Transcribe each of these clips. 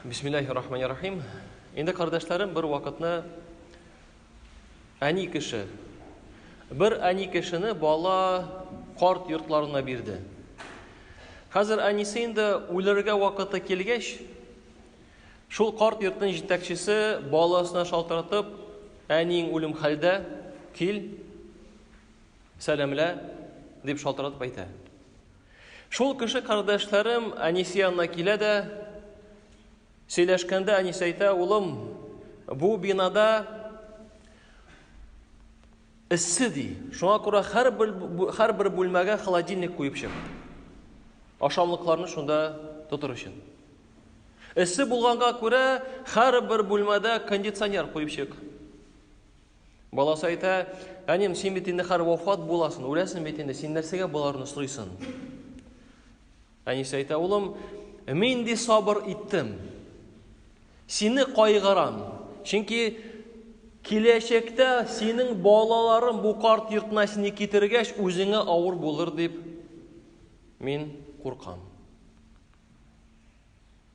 Бисмиллаһи рахмани рахим. Инде кардәшләрем бер вакытны әни кеше бер әни кешене бала карт йортларына бирде. Хәзер әнисе инде үләргә вакыты килгәч, шул карт йортның җитәкчесе баласына шалтыратып, әниең үлем хәлдә, кил, Сәламлә, дип шалтыратып әйтә. Шул кеше кардәшләрем Әнисе янына килә дә, сөйләшкәндә Әнис әйтә, улым, бу бинада эссе ди. Шуңа күрә һәрбер һәрбер бүлмәгә холодильник куеп чык. Ашамлыкларны шунда тотыр өчен. Эссе булганга күрә һәрбер бүлмәдә кондиционер куеп чык. Баласы әйтә, әнем, син бит инде хәр вафат буласың, үләсең бит инде, син нәрсәгә боларны сорыйсың? Әнисе әйтә, улым, мин ди сабыр иттем. Сине кайгырам. Чөнки киләчәктә синең балаларың бу карт йортына сине китергәч, үзеңә авыр булыр дип мин куркам.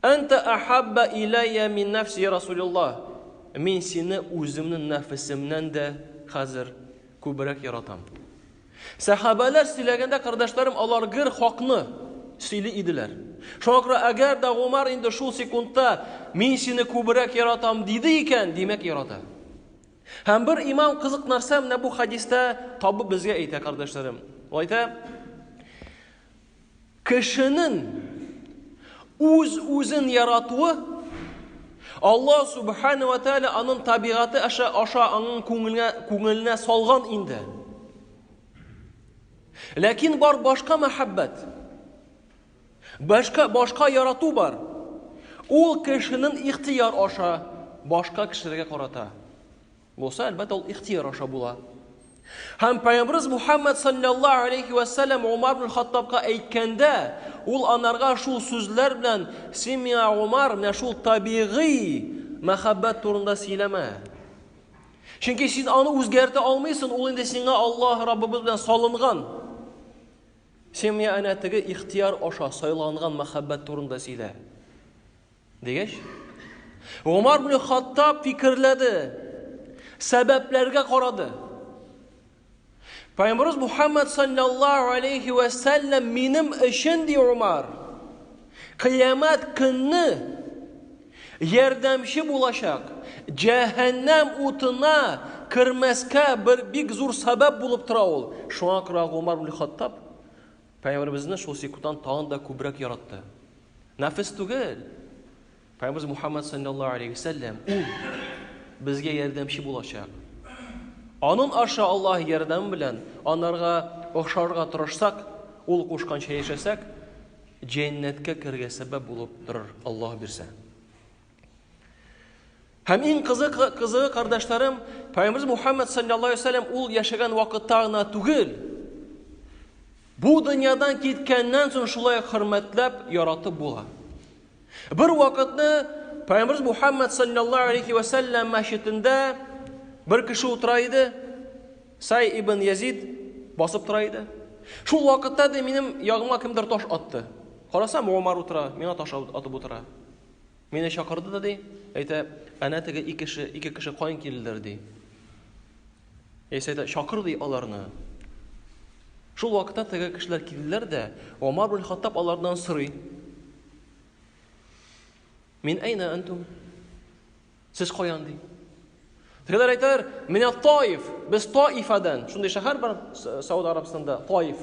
Әнтә әхәббә иләйә мин нәфси Расулиллаһ, Мин сине үземнең нәфесемнән дә хәзер күбрәк яратам. Сәхабәләр сөйләгәндә, кардәшләрем, алар гер хакны сөйли иделәр. Шуңа күрә, әгәр дә Гомәр инде шул секундта Мин сине күбрәк яратам диде икән, димәк, ярата. Һәм бер имам кызык нәрсә менә бу хәдистә табып безгә әйтә, кардәшләрем. Ул әйтә, Кешенең үз-үзен яратуы Аллаһ Субхана ва Тәгалә аның табигате аша аша аның күңеленә күңеленә салган инде. Ләкин бар башка мәхәббәт. Башка башка ярату бар. Ул кешенең ихтияр аша башка кешеләргә карата. Булса, әлбәттә, ул ихтыяр аша була. Һәм Пәйгамбәрбез Мухаммад саллаллаһу алейхи ва саллям Умар ибн Хаттабка әйткәндә, ул анарга шул сүзләр белән син миңа Умар, менә шул табигый мәхәббәт турында сөйләмә. Чөнки син аны үзгәртә алмыйсың, ул инде сиңа Аллаһ Раббыбыз белән салынган. Син миңа әнә теге ихтияр аша сайланган мәхәббәт турында сөйлә. Дигәч, Гомар ибн Хаттаб фикерләде, сәбәпләргә карады. Пәйгамбәрбез Мухаммад саллаллаһу алейхи ва сәлләм минем өчен ди Умар. Кыямәт көнне ярдәмче булачак. Җәһәннәм утына кермәскә бер бик зур сәбәп булып тора ул. Шуңа күрә Умар ибн Хаттаб Пәйгамбәребезне шул секундтан тагын да күбрәк яратты. Нәфес түгел. Пәйгамбәрбез Мухаммад саллаллаһу алейһи ва сәлләм ул безгә ярдәмче булачак. Анын аша Аллаһ ярдәме белән анарга охшарга тырышсак, ул кушканча яшәсәк, җәннәткә керергә сәбәп булып торыр Аллаһ бирсә. Һәм иң кызык кызыгы кардәшләрем, Пәйгамбер Мухаммад саллаллаһу алейһи вәсәлләм ул яшәгән вакытта гына түгел, бу дөньядан киткәннән соң шулай хөрмәтләп, яратып була. Бер вакытны Пәйгамбер Мухаммад саллаллаһу алейһи вәсәлләм мәчетендә бер кеше утыра иде, Сай ибн Язид басып тора иде. Шул вакытта да минем ягыма кемдер таш атты. Карасам, Умар утыра, миңа таш атып утыра. Мине чакырды да ди, әйтә, әнә теге ике кеше, ике кеше кайын килделәр ди. Яисә әйтә, чакыр ди аларны. Шул вакытта теге кешеләр килделәр дә, Омар бин Хаттаб алардан сорый. Мин әйнә әнтум? Сез каян ди? Тегеләр әйтәләр, менә Таиф, без Таифадан. Шундый шәһәр бар Сауд Арабстанда, Таиф.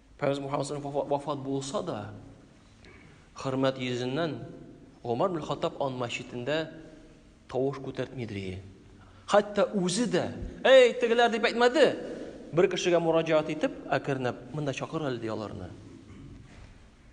Пәйгамбер Мөхәммәд вафат булса да, хөрмәт йөзеннән Гомар бин Хаттаб ан мәчетендә тавыш күтәртмидер. Хәтта үзе дә, "Эй, тегеләр" дип әйтмәде. Бер кешегә мураҗаат итеп, әкренләп, "Монда чакыр әле" ди аларны.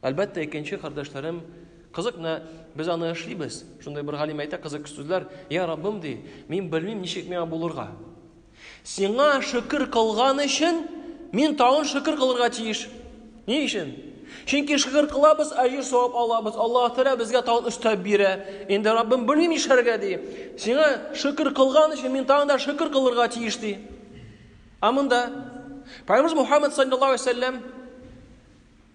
Әлбәттә, икенче кардәшләрем, Кызык, менә без аны эшлибез. Шундый бер галим әйтә кызык сүзләр, "Я Раббым", ди, "мин белмим, ничек миңа булырга. Сиңа шөкер кылган өчен мин тагын шөкер кылырга тиеш". Ни өчен? Чөнки шөкер кылабыз, әҗер савап алабыз. Аллаһ Тәгалә безгә тагын өстәп бирә. Инде Раббым белмим нишләргә ди. Сиңа шөкер кылган өчен мин тагын да шөкер кылырга тиеш ди. Ә монда Пәйгамбер Мухаммад саллаллаһу алейһи ва саллям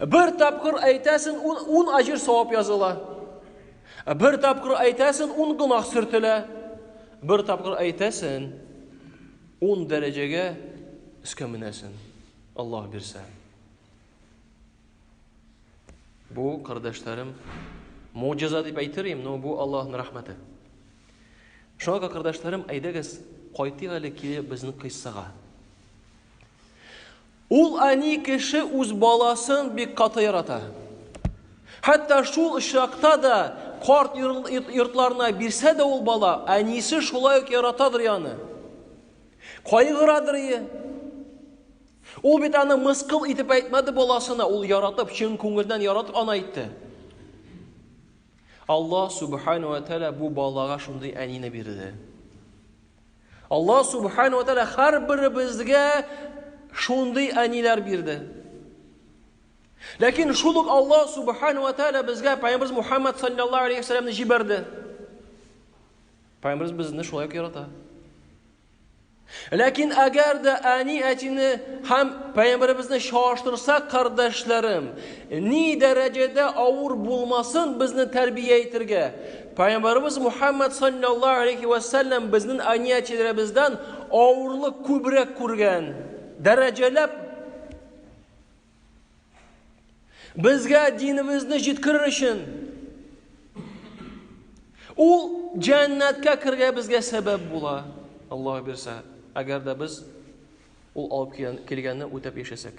Бер тапкыр әйтәсен, ун, ун аҗир савап языла. Бер тапкыр әйтәсен, ун гынах сөртелә. Бер тапкыр әйтәсен, ун дәрәҗәгә өскә менәсен. Аллах бирсә. Бу, кардәшләрем, муҗиза дип әйтерим, но бу Аллахның рәхмәте. Шуңа кардәшләрем, әйдәгез, кайтыйк әле кире безнең кыйссага. Ул әни кеше үз баласын бик каты ярата. Хәтта шул очракта да карт йортларына бирсә дә ул бала, әнисе шулай ук яратадыр яны. Кайгырадыр ие. Ул бит аны мыскыл итеп әйтмәде баласына, ул яратып, чын күңелдән яратып аны әйтте. Аллаһ субхану ва тәала бу балага шундый әнине бирде. Аллаһ субхана ва тәгалә һәрберебезгә шундый әниләр бирде. Ләкин шул ук Аллаһ субхана ва тәгалә безгә Пәйгамбер Мухаммад саллаллаһу алейхи вәсәләмне җибәрде. Пәйгамбербез безне шулай ук ярата. Ләкин әгәр дә әни әтине һәм пәйгамбәребезне чагыштырсак, кардәшләрем, ни дәрәҗәдә авыр булмасын безне тәрбия итергә, Пәйгамбарыбыз Мухаммад саллаллаһу алейхи вә сәлләм безнең әниятиләребездән авырлык күбрәк күргән. Дәрәҗәләп безгә динебезне җиткерер өчен ул җәннәткә кергә безгә сәбәп була. Аллаһ бирсә, әгәр дә без ул алып килгәнне үтәп яшәсәк.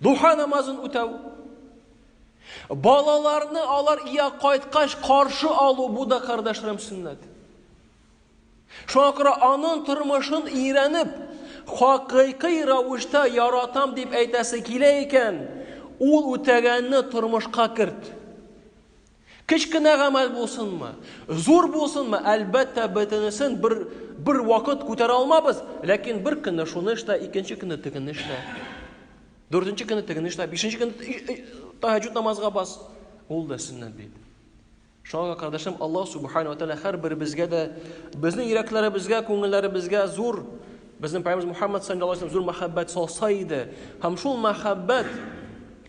Духа намазын үтәү. Балаларны алар ия кайткач каршы алу бу да кардәшләрем сөннәт. Шуңа күрә аның тормышын өйрәнеп, хакыйкый рәвештә яратам дип әйтәсе килә икән, ул үтәгәнне тормышка керт. Кечкенә гамәл булсынмы, зур булсынмы, әлбәттә, бөтенесен бер, бер вакыт күтәрә алмабыз, ләкин бер көнне шуны эшлә, икенче көнне тегенне эшлә, дүртенче көнне тегенне эшлә, бишенче көнне тәһәҗҗүд намазга бас. Ул да сөннәт бит. Шуңа кардәшем Аллаһ субхану ва һәрберебезгә дә безнең йөрәкләребезгә, күңелләребезгә зур безнең Пәйгамбәрбез Мухаммад саллаллаһу алейһи зур мәхәббәт салса иде. Һәм шул мәхәббәт